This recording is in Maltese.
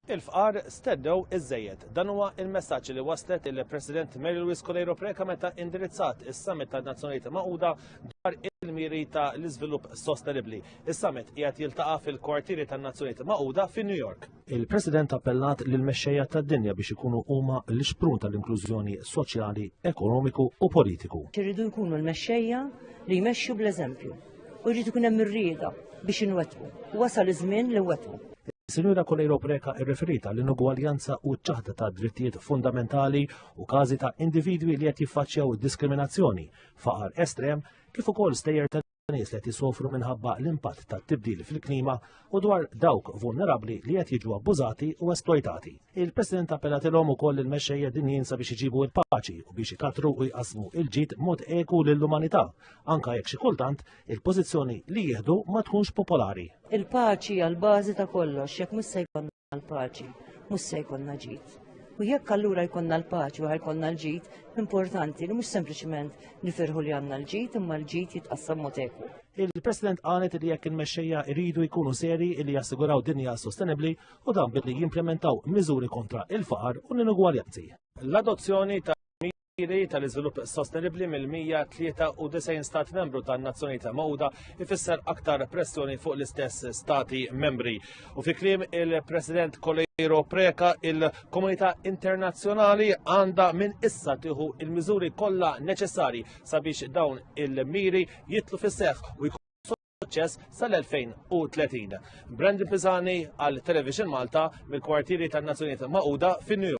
Il-fqar stennew iżżejjed. Dan huwa il-messaġġ li waslet il-President Mary Louise Coleiro Preca meta indirizzat is-Summit tan-Nazzjonijiet Magħquda dwar il-miri ta' l-iżvilupp sostenibbli. Is-Summit qiegħed jiltaqa' fil-kwartieri tan-Nazzjonijiet Magħquda fi New York. Il-President appellat lil mexxejja tad-dinja biex ikunu huma l-ixprun tal-inklużjoni soċjali, ekonomiku u politiku. Irridu jkunu l-mexxejja li jmexxu bl-eżempju. u jrid ikun hemm ir-rieda biex inwettqu. Wasal iż-żmien li nwettqu. Sinjura Kolejro Preca irreferita l inugwaljanza u ċ-ċaħda ta' drittijiet fundamentali u każi ta' individwi li qed jiffaċċjaw diskriminazzjoni, faqar estrem, kif ukoll stejjer ta' nies li qed jisofru minħabba l-impatt tat-tibdil fil-klima u dwar dawk vulnerabbli li qed jiġu abbużati u esplojtati. Il-President appellatilhom ukoll il-mexxejja dinjin sabiex iġibu l-paċi u biex ikatru u jqasmu il-ġid mod eku lill-umanità anke jekk xi kultant il-pożizzjoni li jieħdu ma tkunx popolari. Il-paċi hija l-bażi ta' kollox, jekk mhux se jkollna l-paċi, mhux se jkollna ġid. U jekk allura jkollna l-paċi u jkollna l-ġid, importanti li mhux sempliċement nifirħu li għandna l-ġid imma l-ġid jitqassam mod eku. Il-President qalet li jekk il-mexxejja jridu jkunu seri li jassiguraw dinja sostenibbli u dan billi jimplementaw miżuri kontra il-faqar u l-inugwaljanzi. L-adozzjoni ta' miri tal-iżvilupp sostenibbli mill-193 stat membru tan-Nazzjonijiet Magħquda ifisser aktar pressjoni fuq l-istess stati membri. U fi kliem il-President Kolejro Preka il-komunità internazzjonali għandha minn issa tieħu il-miżuri kollha neċessarji sabiex dawn il-miri jitlu fis-seħħ u jkunu suċċess sal-2030. Brandon Pisani għal Television Malta mill-kwartieri tan-Nazzjonijiet Magħquda fin-New